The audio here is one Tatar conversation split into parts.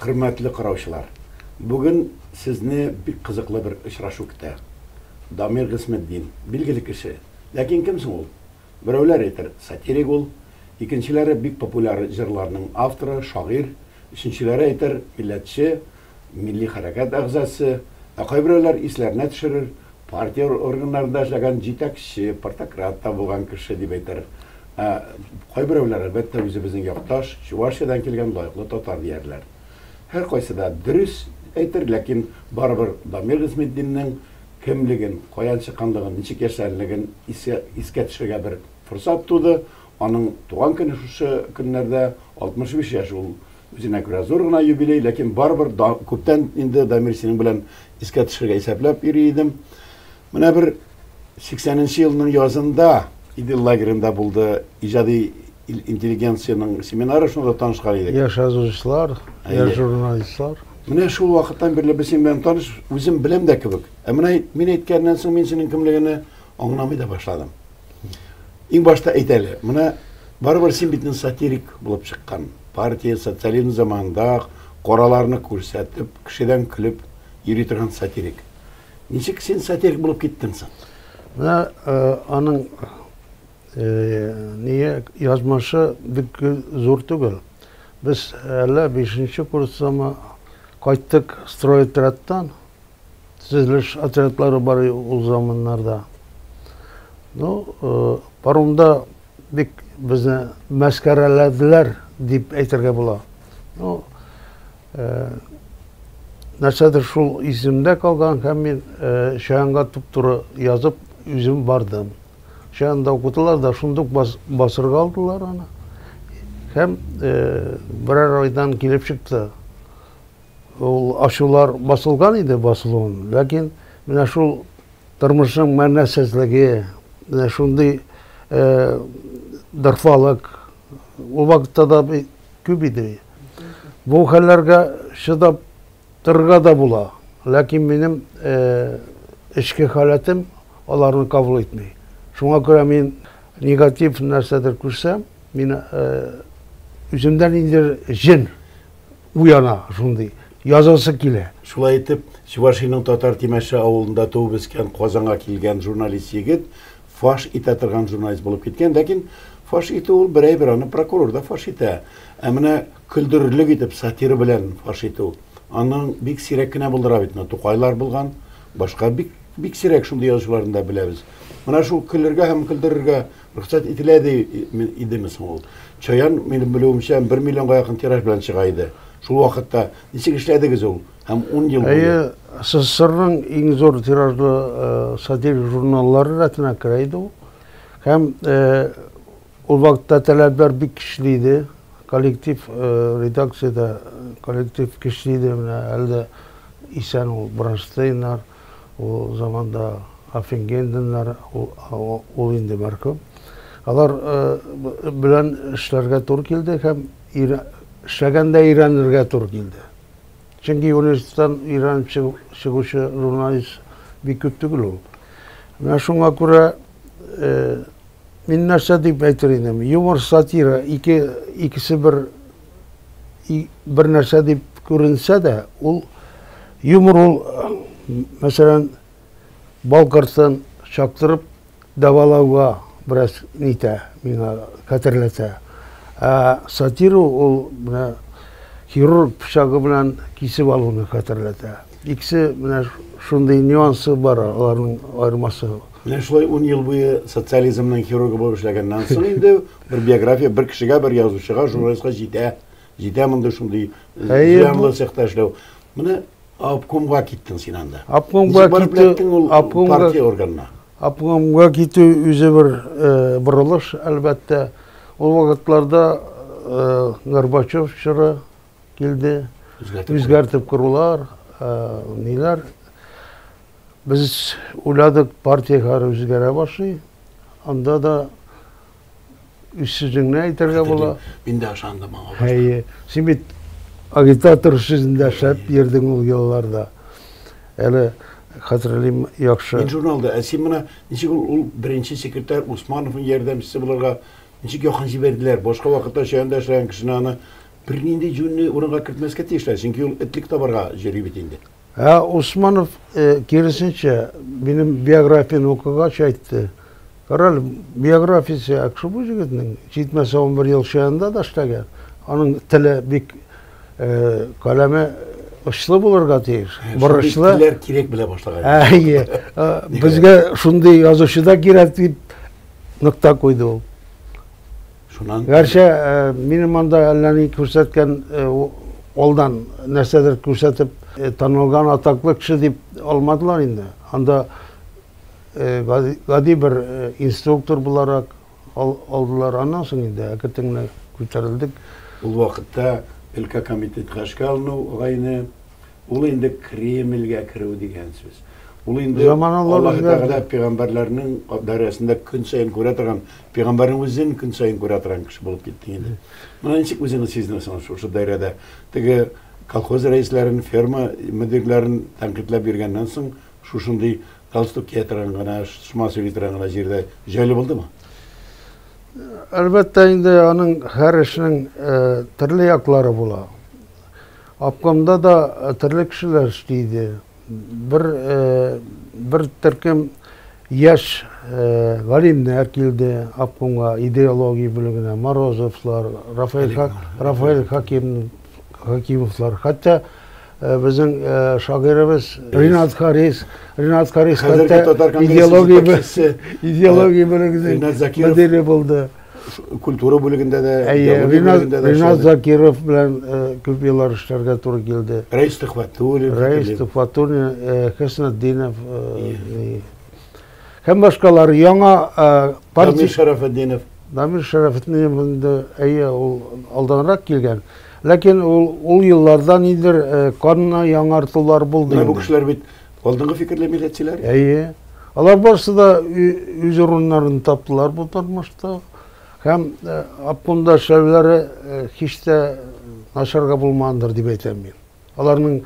Хөрмәтле караучылар, бүген сезне бик кызыклы бер очрашу көтә. Дамир Гыйсметдин, билгеле кеше. Ләкин кем соң ул? Берәүләр әйтер, сатирик ул, икенчеләре бик популяр җырларның авторы, шагыйрь, Өченчеләре әйтер, милләтче, милли хәрәкәт әгъзасы, ә кайберәүләр исләренә төшерер, партия органнарында эшләгән җитәкче, партократ та булган кеше, дип әйтер. Ә кайберәүләр, әлбәттә, үзебезнең якташ, Чувашиядән килгән лаеклы татар, диярләр. Һәркайсы да дөрес әйтер, ләкин барыбер Дамир Гыйзметдиннең кемлеген, каян чыкканлыгын, ничек яшьләнлеген искә төшергә бер форсат туды, Аның туган көне шушы көннәрдә, 65 яшь ул. Үзенә күрә зур гына юбилей, ләкин барыбер да күптән инде Дамир синең белән искә төшергә исәпләп йөри идем. Менә бер 80 нче елның язында Идел лагеренда булды иҗади интеллигенциянең семинары, шунда да танышкан идек. Яшь язучылар, яшь журналистлар. Менә шул вакыттан бирле без синең белән таныш, үзем беләм дә кебек. Ә менә мин әйткәннән соң мин синең кемлегеңне аңламый да башладым. Иң башта әйт әле, менә барыбер син бит сатирик булып чыккан. Партия социализм заманында кораларны күрсәтеп, кешедән көлеп йөри торган сатирик. Ничек син сатирик булып киттең соң? Менә э, аның э, ние язмышы бик зур түгел. Без әллә 5 курстамы кайттык стройотрядтан, Төзелеш отрядлары бар ул заманнарда. Ну, э, паромда бик безне мәскәрәләделәр дип әйтергә була. Ну, э, нәрсәдер шул исемдә калган һәм мин э, Шаянга туп-туры язып үзем бардым. Шаянда укытылар да шундук бас, басырга алдылар аны. Һәм э, берәр айдан килеп чыкты. Ул ачулар басылган иде басылуын, ләкин менә шул тормышның мәгънәсезлеге, менә шундый дырфалык ул вакытта да күп иде. Бу хәлләргә чыдап торырга да була, ләкин минем эчке халәтем аларны кабул итми. Шуңа күрә мин негатив нәрсәдер күрсәм, мин үземдә ниндидер җен Уяна шундый, язасы килә. Шулай итеп, Чувашиянең Татар Тимәше авылында туып-үскән, Казанга килгән журналист егет фаш итә торган журналист булып киткән. Ләкин фаш итү ул берәйбер, аны прокурор да фаш итә. Ә менә көлдерерлек итеп, сатира белән фаш итү, аны бик сирәк кенә булдыра бит. Менә Тукайлар булган, башка бик, бик сирәк шундый язучыларны да беләбез. Менә шул көлергә һәм көлдерергә Рөхсәт ителә ди идеме соң ул? Чаян, минем белүемчә, бер миллионга якын тираж белән чыга иде. Шул вакытта ничек эшләдегез ул һәм ун ел буе? Әйе, СССРның иң зур тиражлы сатирик журналлары рәтенә керә иде ул. Һәм ул вакытта таләпләр бик көчле иде. Коллектив редакциядә коллектив көчле иде. Менә әле дә исән ул Бронштейннар, Ул заманда Аффингенденнар, ул инде мәрхүм, алар белән эшләргә туры килде һәм эшләгән дә өйрәнергә туры килде. Чөнки университеттан өйрәнеп чыгучы журналист бик күп түгел ул. Менә шуңа күрә мин нәрсә дип әйтер идем, юмор, сатира икесе бер бер нәрсә дип күренсә дә, ул юмор ул, мәсәлән, бал кортын чаптырып дәвалауга бераз нитә, миңа хәтерләтә. Ә сатира ул менә хирург пычагы белән кисеп алуны хәтерләтә. Икесе менә шундый нюансы бар аларның аермасы. Менә шулай ун ел буе социализмның хирургы булып эшләгәннән соң инде Бер биография бер кешегә, бер язучыга, журналистка җитә. Җитә мондый шундый э, зыянлы цехта эшләү. Менә обкомга киттең син анда. Обкомга киттең ул партия органына. Обкомга китү үзе бер э, борылыш, әлбәттә. Ул вакытларда э, Горбачев чоры, килде. Үзгәртеп корулар, ниләр. Без уйладык, партиягә үзгәрә башлый. Анда да сүзеңне әйтергә була. Мин дә ышандым аңа. Әйе. Син бит агитатор сүзендә шәп йөрдең ул елларда. Әле хәтерлим яхшы. Мин журналда, ә син менә ничек ул беренче секретарь Усмановның ярдәмчесе булырга ничек якын җибәрделәр? Башка вакытта чәендә эшләгән кешене аны Бернинди җүнне урынга кертмәскә тиешләр, чөнки ул этлек табарга йөри бит инде. Ә Усманов, киресенчә, минем биографияне укыгач, әйтте, Карале, биографиясе әк шул бу җегетнең, җитмәсә унбер ел ШЭНда да эшләгән, аның теле бик, каләме очлы булырга тиеш, борычлы. Шундый телләр кирәк белә башлаган. Әйе, безгә шундый язучы да кирәк, дип нокта куйды ул. Шуннан Гәрчә минем анда әллә ни күрсәткән алдан нәрсәдер күрсәтеп танылган атаклы кеше дип алмадылар инде. Анда гади бер инструктор буларак алдылар. Аннан соң инде әкертен генә күтәрелдек. Ул вакытта өлкә комитетка эшкә алыну гайне, ул инде Кремльгә керү дигән сүз. Ул инде Аллаһы Тәгалә пигамбәрләрнең дәрәсендә көн саен күрә торган Пигамбәрнең үзен көн саен күрә торган кеше булып киттең инде. Моны ничек үзеңне сизнәсең шушы даирәдә? Теге колхоз рәисләрен, ферма мөдирләрен тәнкыйтьләп йөргәннән соң, шушындый галстук кия торган гына, шома сөйли торган гына җирдә җайлы булдымы? Әлбәттә инде аның һәр эшнең э, төрле яклары була. Обкомда да э, төрле кешеләр эшли иде. бер бер төркем яшь галимнәр килде обкомга идеология бүлегенә морозовлар рафаэль рафаэль хаким хакимовлар хәтта безнең шагыйребез ринат харис ринат харис хәтта идеология идеология бүлегенең мөдире булды Культура бүлегендә дә, идеология бүлегендә дә. Ринат Закиров белән э, күп еллар эшләргә туры килде. Рәис Төхвәтуллин. Рәис Төхвәтуллин, э, Хөснетдинов э, һәм башкалар. Яңа партия... Дамир Шәрәфетдинов. Дамир Шәрәфетдинов инде, әйе, ул алданрак килгән. Ләкин ул, ул елларда нидер канна яңартулар булды. Менә бу кешеләр бит Алдынгы фикерле милләтчеләр? Әйе. Алар барысы да үз урыннарын таптылар бу тормышта. Һәм э, обкомда эшләүләре э, һич тә начарга булмагандыр дип әйтәм мин. Аларның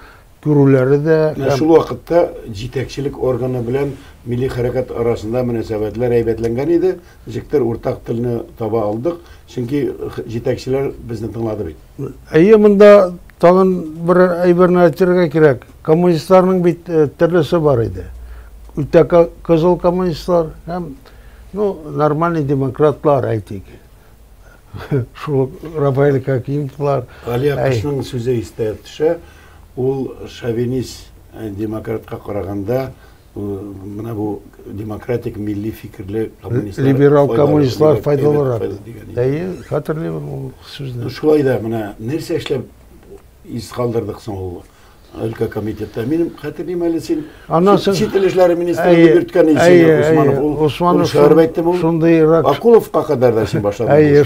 күрүләре дә менә шул вакытта җитәкчелек органы белән милли хәрәкәт арасында мөнәсәбәтләр әйбәтләнгән иде ничектер уртак телне таба алдык чөнки җитәкчеләр безне тыңлады бит әйе монда тагын бер әйберне әйтергә кирәк Коммунистларның бит э, төрлесе бар иде. Үтә кызыл коммунистлар һәм ну, нормальный демократлар әйтик. Шул Рафаэль Хакимовлар. Али Акышның сүзе истә төшә. Ул шовинист э, демократка караганда э, менә бу демократик милли фикерле коммунистлар либерал коммунистлар файдалырак. Әйе, хәтерлим ул сүзне. Шулай да менә нәрсә эшләп из калдырдык соң ул Өлкә комитетта. Минем хәтерлим әле син Аннан соң чит ил эшләре министры дип йөрткән идең син Усманов. Ул Усманов шаярып әйтте бу. Шундыйрак. Акуловка кадәр дә син башладың. Әйе,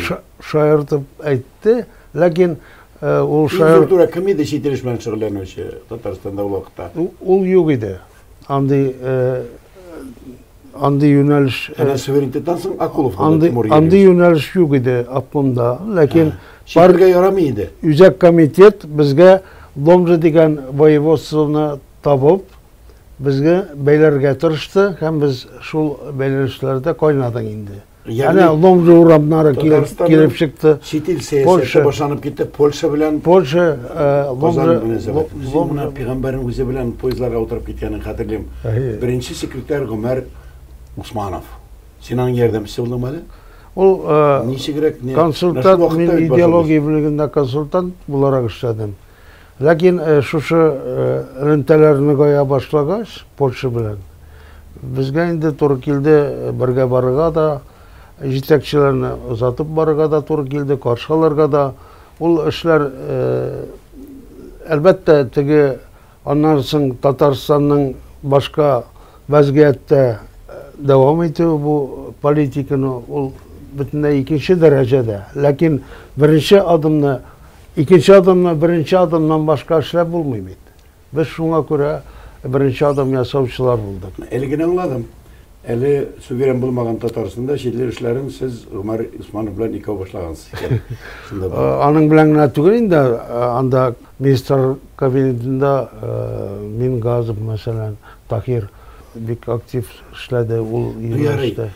шаяртып әйтте, ләкин ул шаяр... Иң зур кем иде чит ил белән шөгыльләнүче Татарстанда ул вакытта? Ул юк иде. Андый Андый юнәлеш... Әнә суверенитеттан соң Акулов андый, андый юнәлеш юк иде Атлымда. Ләкин... Читләргә ярамый иде. Үзәк комитет безгә Ломжа дигән воеводствоны табып, безгә бәйләргә тырышты, һәм без шул бәйләнешләрдә кайнадык инде. Әнә Ломжа урамнары килеп чыкты. Чит ил сәясәте башланып китте. Польша белән Польша Ломжа Ломжа пигамбәрнең үзе белән поездларга утырып киткәнен хәтерлим. Беренче секретарь Гомәр Усманов. Син аның ярдәмчесе булдыңмы әле? Ул ничегрәк консультант, мин идеология бүлегендә консультант буларак эшләдем. Ләкин шушы элемтәләр ныгая башлагач, Польша белән безгә инде туры килде бергә барырга да, җитәкчеләрне озатып барырга да туры килде, каршы алырга да. Ул эшләр, әлбәттә, теге аннан соң Татарстанның башка вәзгыятьтә дәвам итүе бу политиканы ул бөтенләй икенче дәрәҗәдә. Ләкин беренче адымны Икенче адымны беренче адымнан башка эшләп булмый бит. Без шуңа күрә беренче адым ясаучылар булдык. Әле генә аңладым. Әле суверен булмаган Татарстанда читле эшләрен сез Гомәр Усманов белән икәү башлагансыз икән. Шунда да. Аның белән генә түгел инде, анда министр кабинетында Мингазов мәсәлән, Таһир бик актив эшләде, ул юнәлештә.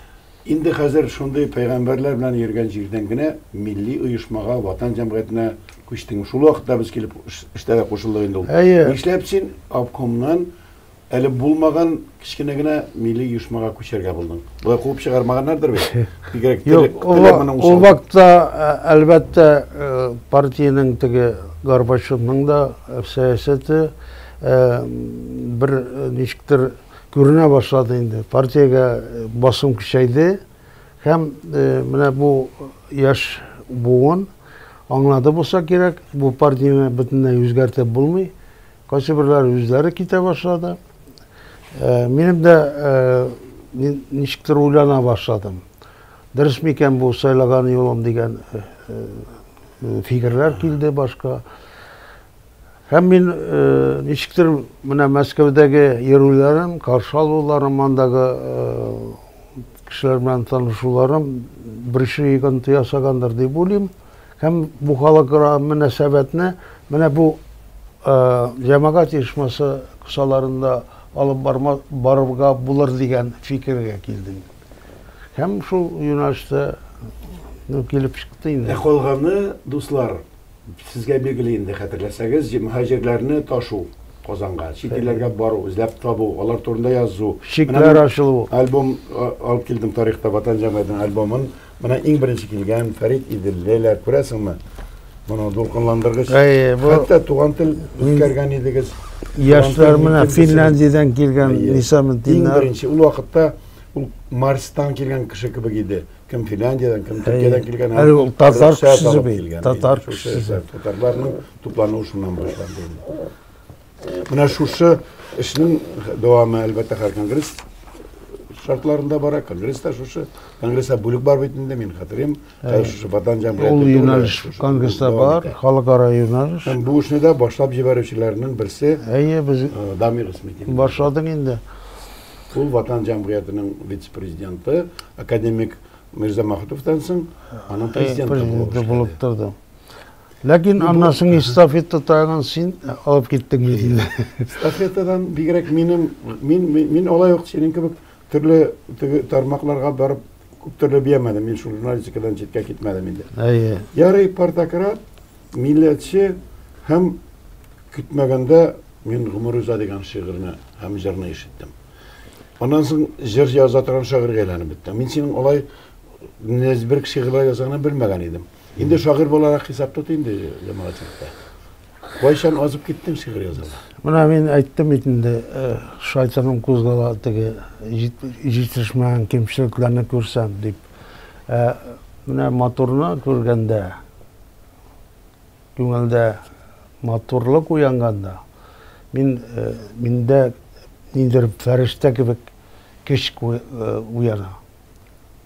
Инде хәзер шундый пәйгамбәрләр белән йөргән җирдән генә милли оешмага, Ватан җәмгыятенә күчтең. Шул вакытта без килеп эштә дә кушылдык инде ул. Әйе. Нишләп син обкомнан әле булмаган кечкенә генә милли оешмага күчәргә булдың? Болай куып чыгармаганнардыр бит? Бигрәк теле теле моның усал. Ул вакытта, әлбәттә, партиянең теге Горбачевның да сәясәте бер ничектер Күренә башлады инде. Партиягә басым көчәйде һәм менә бу яшь буын аңлады булса кирәк, бу партияне бөтенләй үзгәртеп булмый. Кайсы берләре үзләре китә башлады. Минем дә мин ничектер уйлана башладым. Дөрес микән бу сайлаган юлым дигән фикерләр килде башка. Һәм мин ничектер менә Мәскәүдәге йөрүләрем, каршы алуларым, андагы кешеләр белән танышуларым беренче йогынты ясагандыр дип уйлыйм. Һәм бу халыкара мөнәсәбәтне менә бу җәмәгать оешмасы кысаларында алып барма, барырга булыр дигән фикергә килдем. Һәм шул юнәлештә ну, килеп чыкты инде. Ә калганы, дуслар, Сезгә билгеле инде, хәтерләсәгез, җмһаҗирләрне ташу, Казанга, чит илләргә бару, эзләп табу, алар турында язу. Чикләр ачылу. Альбом алып килдем тарихта Ватан җәмгыятенең альбомын. Менә иң беренче килгән Фәрит Иделлеләр, күрәсеңме? Моның дулкынландыргыч. Хәтта туган тел үткәргән идегез. Яшьләр менә Финляндиядән килгән Лиса Ментина. Иң беренче ул вакытта ул Марстан килгән кеше кебек иде. Кем Финляндиядән, кем Төркиядән килгән. Әле ул татар кешесе бит. Татар кешесе. Татарларның туплануы шуннан башланды. Менә шушы эшнең дәвамы, әлбәттә, һәр конгресс шартларында бара. Конгресста шушы. Конгресста бүлек бар бит инде, мин хәтерим. Хәзер шушы Ватан җәмгыяте. Ул юнәлеш конгресста бар, халыкара юнәлеш. Һәм бу эшне дә башлап җибәрүчеләрнең берсе. Әйе, без Дамир Исметдинов. Башладың инде. Ул Ватан җәмгыятенең вице-президенты, академик Мирзамахтовтан соң аның президенты булып торды. Ләкин аннан соң эстафета тагын син алып киттең бит инде. Эстафетадан бигрәк минем мин мин алай ук синең кебек төрле теге тармакларга барып күп төрле биямәдем. Мин шул журналистикадан читкә китмәдем инде. Әйе. Ярый партократ, милләтче һәм көтмәгәндә Мин гомер уза дигән шигырьне һәм җырны ишеттем. Аннан соң җыр яза торган шагыйрьгә әйләнеп беттем. Мин синең алай нәзберк шигырьләр язганын белмәгән идем. Инде шагыйрь буларак хисап тот инде җәмәгатьчелеккә. Кайчан азып киттең шигырь язарга? Менә мин әйттем бит инде, э, шайтаным кузгала теге җитешмәгән кемчелекләрне күрсәм дип. Э, менә моторны күргәндә, Күңелдә матурлык уянганда, мин, э, миндә ниндидер фәрештә кебек көч э, уяна.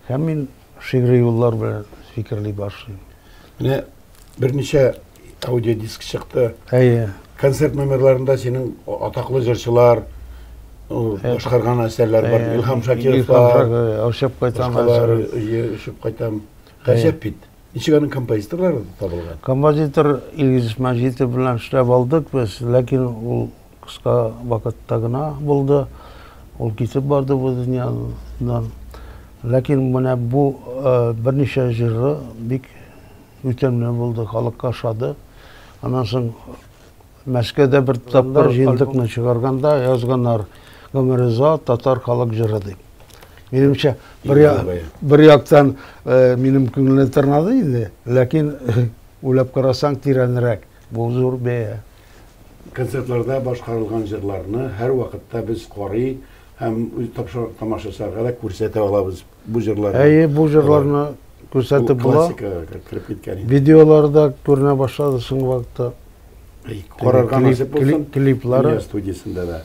Һәм мин шигъри юллар белән фикерли башлыйм. Менә берничә аудиодиск чыкты. Әйе. Концерт номерларында синең атаклы җырчылар башкарган әсәрләр бар. Илһам Шакиров бар. Очып кайтам. Башкалар, очып кайтам. Гаҗәп бит. Ничек аның композиторлары табылган? Композитор Илгиз Мәҗитов белән эшләп алдык без, ләкин ул кыска вакытта гына булды. Ул китеп барды бу дөньядан. Ләкин менә бу э, берничә җыры бик үтемле булды, халыкка ошады. Аннан соң Мәскәүдә бер тапкыр җиндекне чыгарганда язганнар, Гомериза татар халык җыры дип. Минемчә, бер, бер яктан э, минем күңелне тырнады инде, ләкин уйлап карасаң тирәнрәк, бу зур бәя. Концертларда башкарылган җырларны һәрвакытта без карый һәм үз тамашачыларга да күрсәтә алабыз. бу җырларны. Әйе, бу җырларны күрсәтеп була. Классикага кереп киткән инде. Видеолары да күренә башлады соңгы вакытта. Карарга насыйп булсын. Клиплары. Дөнья студиясендә дә.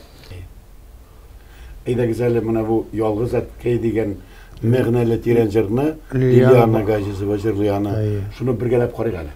Әйдәгез әле менә бу Ялгыз әткәй дигән мәгънәле тирән җырны Лилиана Газизова җырлый аны. Шуны бергәләп карыйк әле.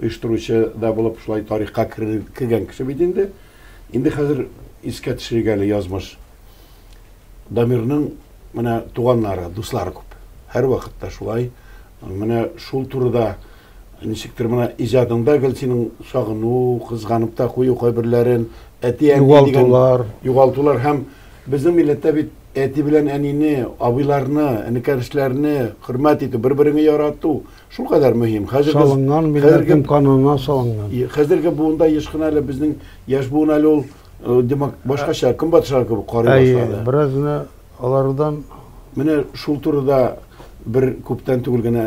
Оештыручы да булып шулай тарихка кергән кеше бит инде. Инде хәзер искә төшерик әле язмыш. Дамирның менә туганнары, дуслары күп. Һәрвакытта шулай. Менә шул турыда ничектер менә иҗадыңда гел синең сагыну, кызганып та кую кайберләрен, әти әни югалтулар, югалтулар һәм безнең милләттә бит әти белән әнине, абыйларны, энекәшләрне хөрмәт итү, бер-береңне ярату, Шулкадәр мөһим. Хәзерге Салынган милләтнең канына салынган. Хәзерге буында еш кына әле безнең яшь буын әле ул э, димәк башкача ә. көнбатышлар кебек карый башлады. Әйе, бераз гына алардан Менә шул турыда бер күптән түгел генә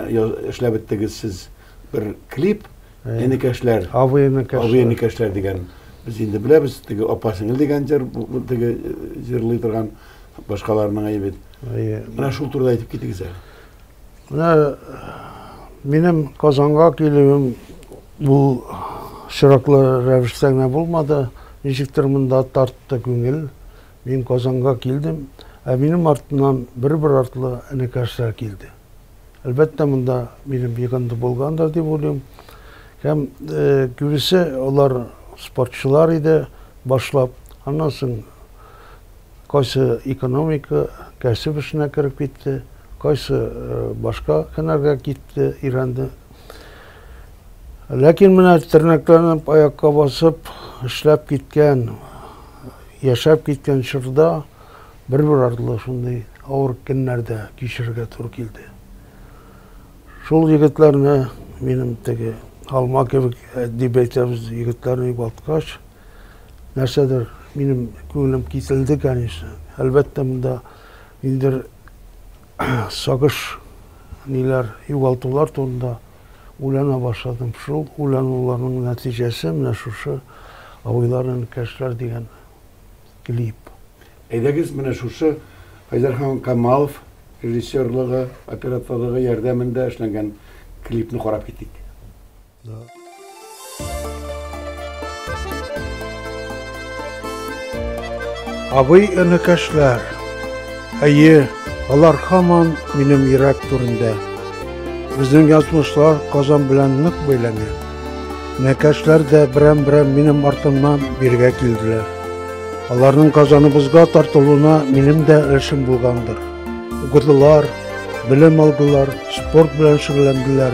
эшләп беттегез сез бер клип Энекәшләр. Авы энекәшләр. Авы энекәшләр дигән. Без инде беләбез, теге апа сеңел дигән җыр, теге э, җырлый торган башкаларның әйе бит. Әйе. Менә шул турыда әйтеп китегез әле. Менә минем Казанга килүем бу чираклы рәвештә генә булмады. Ничектер монда тартты күңел. Мин Казанга килдем, ә минем артымнан бер-бер артлы энекәшләр килде. Әлбәттә, монда минем йогынты булгандыр дип уйлыйм. Һәм э, күбесе алар спортчылар иде башлап. Аннан соң Кайсы экономика, кәсеп эшенә кереп китте, кайсы башка һөнәргә китте, өйрәнде. Ләкин менә тернәкләнеп, аякка басып, эшләп киткән, яшәп киткән чорда бер-бер артлы шундый авыр көннәр дә кичерергә туры килде. Шул егетләрне минем теге алма кебек дип әйтәбез, егетләрне югалткач, нәрсәдер минем күңелем киселде, конечно. Әлбәттә, монда ниндер сагыш ниләр югалтулар турында уйлана башладым. Шул уйлануларның нәтиҗәсе менә шушы Абыйлар энекәшләр дигән клип. Әйдәгез, менә шушы Айдархан Камалов режиссерлыгы, операторлыгы ярдәмендә эшләнгән клипны карап китик. Абый энекәшләр, әйе, алар хаман минем йөрәк түрендә. Безнең язмышлар Казан белән нык бәйләнә. Энекәшләр дә берәм-берәм минем артымнан биргә килделәр. Аларның Казаныбызга тартылуына минем дә өлешем булгандыр. Укыдылар, белем алдылар, спорт белән шөгыльләнделәр.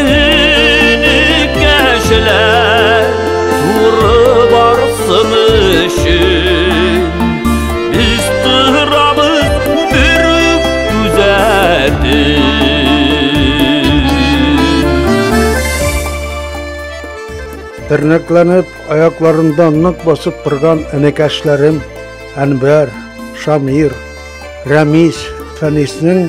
Энекәшеләр туры барсын өчен Без торабыз бер үк күзәтеп Тернәкләнеп, аякларында нык басып торган энекәшләрем Әнбәр, Шамир, Рәмис, Фәниснең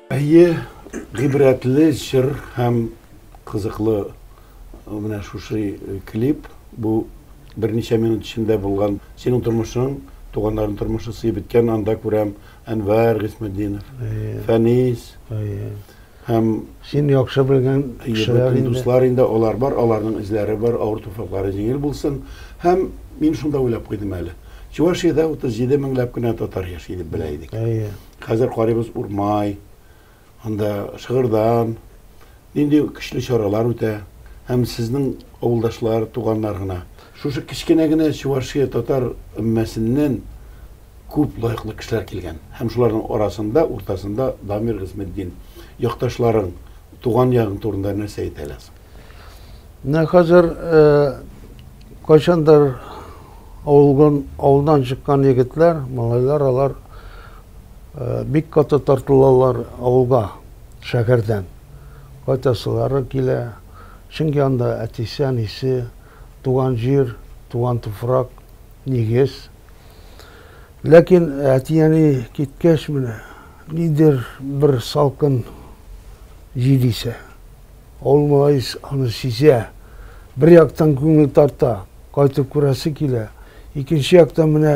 Әйе, гыйбрәтле җыр һәм кызыклы менә шушы клип. Бу берничә минут эчендә булган синең тормышың, туганнарның тормышы сыеп беткән, анда күрәм Әнвәр Гыйсметдинов, Фәнис. Әйе. Һәм син яхшы белгән кешеләр инде. Дуслар инде алар бар, аларның эзләре бар, авыр туфраклары җиңел булсын. Һәм мин шунда уйлап куйдым әле. Чувашиядә 37 меңләп кенә татар яши дип белә идек. Әйе. Хәзер карыйбыз Урмай, анда Шыгырдан нинди көчле чаралар үтә. Һәм сезнең авылдашлар, туганнар гына. Шушы кечкенә генә Чувашия татар өммәсеннән күп лаеклы кешеләр килгән. Һәм шуларның арасында, уртасында Дамир Гыйсметдин. Якташларың, туган ягың турында нәрсә әйтә аласың? Менә хәзер кайчандыр авылган, авылдан чыккан егетләр, малайлар, алар э, бик каты тартылалар авылга, шәһәрдән. Кайтасылары килә, чөнки анда әтисе, әнисе, туган җир, туган туфрак, нигез. Ләкин әти-әни киткәч менә, нидер бер салкын җил исә. Авыл малаес аны сизә. Бер яктан күңел тарта, кайтып күрәсе килә, икенче яктан менә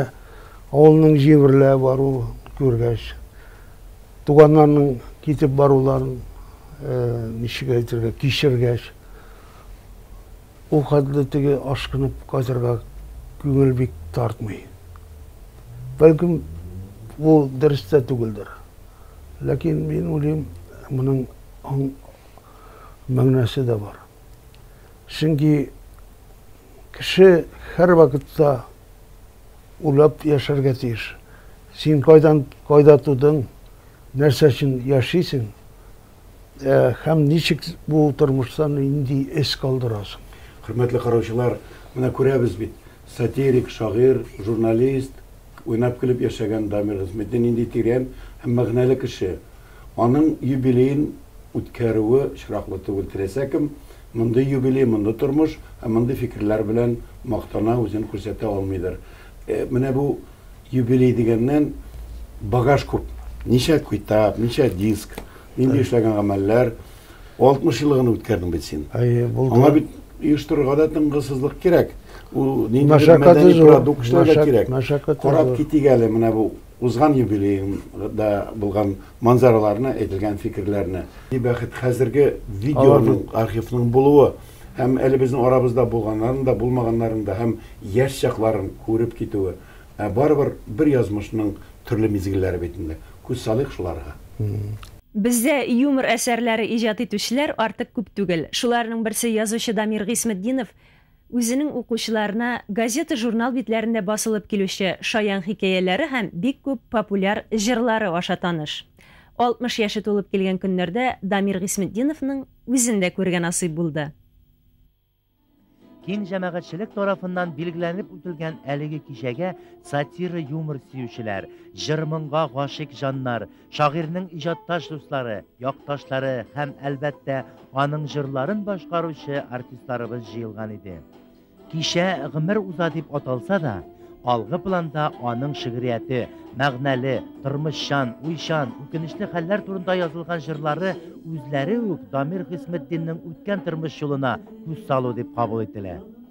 авылның җимерелә баруын күргәч, туганнарның китеп баруларын, ничек әйтергә, кичергәч, ул хәтле теге ашкынып кайтырга күңел бик тартмый. Бәлкем, бу дөрес тә түгелдер. Ләкин мин уйлыйм, моның аң. мәгънәсе дә бар. Чөнки кеше һәрвакытта уйлап яшәргә тиеш. Син кайдан, кайда тудың, нәрсә өчен яшисең, ә, һәм ничек бу тормыштан нинди эз калдырасың. Хөрмәтле караучылар, менә күрәбез бит, сатирик, шагыйрь, журналист, уйнап-көлеп яшәгән Дамир Гыйзметдин нинди тирән һәм мәгънәле кеше. Аның юбилеен үткәрүе очраклы түгел, теләсә кем мондый юбилей, мондый тормыш һәм мондый фикерләр белән мактана, үзен күрсәтә алмыйдыр. Менә бу юбилей дигәннән багаж күп. Ничә китап, ничә диск, нинди эшләгән гамәлләр. 60 елны гына үткәрдең бит син. Аңа бит оештырырга да тынгысызлык кирәк. Ул ниндидер мәдәни продукт эшләргә кирәк. Карап китик әле менә бу Узган юбилеем да булган манзараларны, әйтелгән фикерләрне. Ни бәхет, хәзерге видеоның, архивның булуы һәм әле безнең арабызда булганнарын да, булмаганнарын да һәм яшь чакларын күреп китүе. Ә барыбер бер язмышның төрле мизгелләре бит инде. Күз салыйк шуларга. Бездә юмор әсәрләре иҗат итүчеләр артык күп түгел. Шуларның берсе язучы Дамир Гыйсметдинов. Үзенең укучыларына газета-журнал битләрендә басылып килүче шаян хикәяләре һәм бик күп популяр җырлары аша таныш. 60 яше тулып килгән көннәрдә Дамир Гыйсметдиновның үзен дә күрергә насыйп булды. Киң җәмәгатьчелек тарафыннан билгеләнеп үтелгән әлеге кичәгә сатира-юмор сөючеләр, җыр-моңга гашыйк җаннар, Шагыйрьнең иҗатташ дуслары, якташлары һәм, әлбәттә, аның җырларын башкаручы артистларыбыз җыелган иде. Кичә гомер уза дип аталса да, алгы планда аның шигърияте, мәгънәле, тормышчан, уйчан, үкенечле хәлләр турында язылган җырлары үзләре үк Дамир Хисметдиннең үткән тормыш юлына күз салу дип кабул ителә.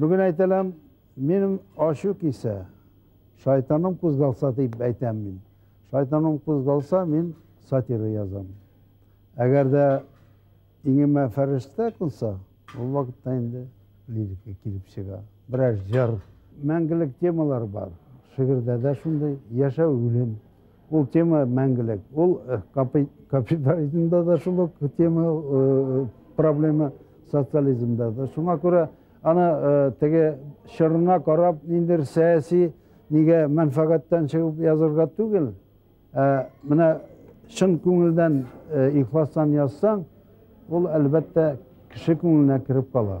Бүген әйтәләм, минем ачу кисә, шайтаным кузгалса дип әйтәм мин. Шайтаным кузгалса, мин сатира язам. Әгәр дә иңемә фәрештә кунса, ул вакытта инде лирика килеп чыга. Берәр җыр, мәңгелек темалар бар. Шигырьдә дә шундый яшәү, үлем. Ул тема мәңгелек. Ул э, капитализмда да шул ук тема, э, проблема социализмда да. Шуңа күрә аны э, теге чорына карап, ниндер сәяси нигә мәнфәгатьтән чыгып язырга түгел. Ә менә чын күңелдән ихластан язсаң, ул әлбәттә кеше күңеленә кереп кала.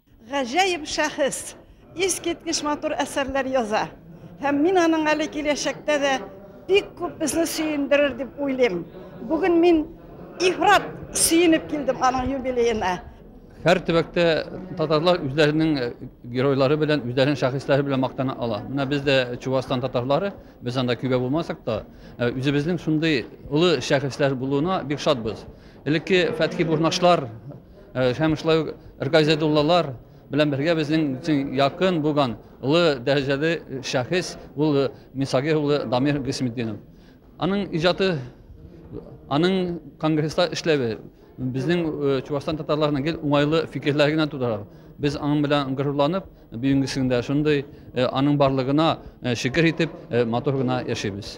Гаҗәеп шәхес, искиткеч матур әсәрләр яза. Һәм мин аның әле киләчәктә дә бик күп безне сөендерер дип уйлыйм. Бүген мин ифрат сөенеп килдем аның юбилеена. Һәр төбәктә татарлар үзләренең э, геройлары белән, үзләренең шәхесләре белән мактана ала. Менә без дә Чувашстан татарлары, без анда көйгә булмасак та, э, үзебезнең шундый олы шәхесләр булуына бик шатбыз. Элекке Фәтхи Бурнашлар, Э, һәм шулай ук ргазидуллалар белән бергә безнең өчен якын булган олы дәрәҗәле шәхес ул э, мисаги улы дамир гыйсметдинов аның иҗаты аның конгресста эшләве безнең э, чувашстан татарларына гел уңайлы фикерләр генә тудыра без аның белән горурланып бүгенгесендә шундый аның барлыгына шөкер итеп матур гына яшибез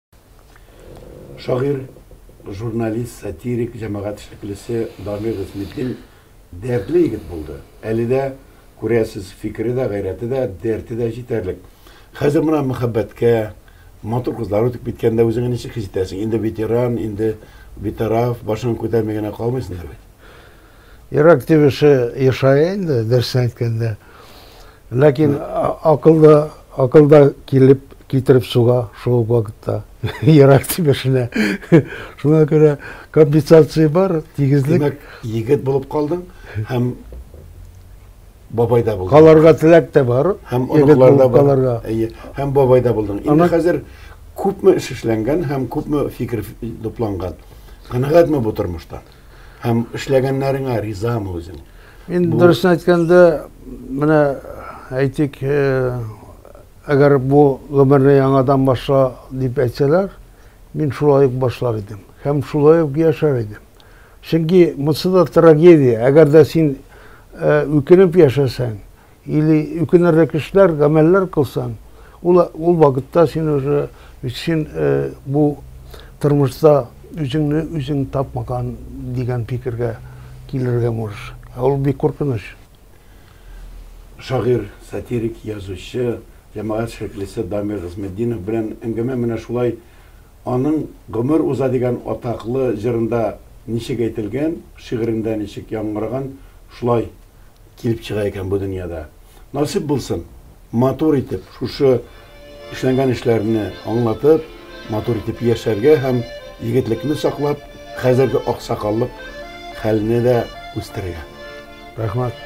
Шагыйрь, журналист, сатирик, җәмәгать эшлеклесе Дамир Гыйсметдин дәртле егет булды. Әле дә, күрәсез, фикере дә, гайрәте дә, дәрте дә җитәрлек. Хәзер менә мәхәббәткә, матур кызлар үтеп киткәндә үзеңне ничек хис итәсең? Инде ветеран, инде битараф, башыңны күтәрми генә калмыйсыңдыр бит? Йөрәк тибеше ешая инде, дөресен әйткәндә. Ләкин акылда, акылда килеп китереп суга шул вакытта йөрәк тибешенә. Шуңа күрә компенсация бар, тигезлек. Димәк, егет булып калдың һәм бабай да булдың. Каларга теләк тә бар. Һәм оныклар да каларга. Әйе, һәм бабай да булдың. Инде хәзер күпме эш эшләнгән һәм күпме фикер тупланган. Канәгатьме бу тормыштан? Һәм эшләгәннәреңә ризамы үзең? Мин бу... дөресен әйткәндә, менә әйтик, э, әгәр бу гомерне яңадан башла дип әйтсәләр, мин шулай ук башлар идем. Һәм шулай ук яшәр идем. Чөнки монсы да трагедия. Әгәр дә син э, үкенеп яшәсәң, Или үкенерлек эшләр, гамәлләр кылсаң, ул, ул вакытта син уже, син э, бу тормышта үзеңне үзең тапмаган дигән фикергә килергә можешь. Ә ул бик куркыныч. Шагыйрь, сатирик, язучы, җәмәгать шәхесе Дамир Гыйзметдинов белән әңгәмә менә шулай Аның гомер уза дигән атаклы җырында ничек әйтелгән, шигырендә ничек яңгыраган, шулай килеп чыга икән бу дөньяда. Насыйп булсын, матур итеп шушы эшләнгән эшләрне аңлатып, матур итеп яшәргә һәм егетлекне саклап, хәзерге аксакаллык хәлне дә үстерергә. Рәхмәт.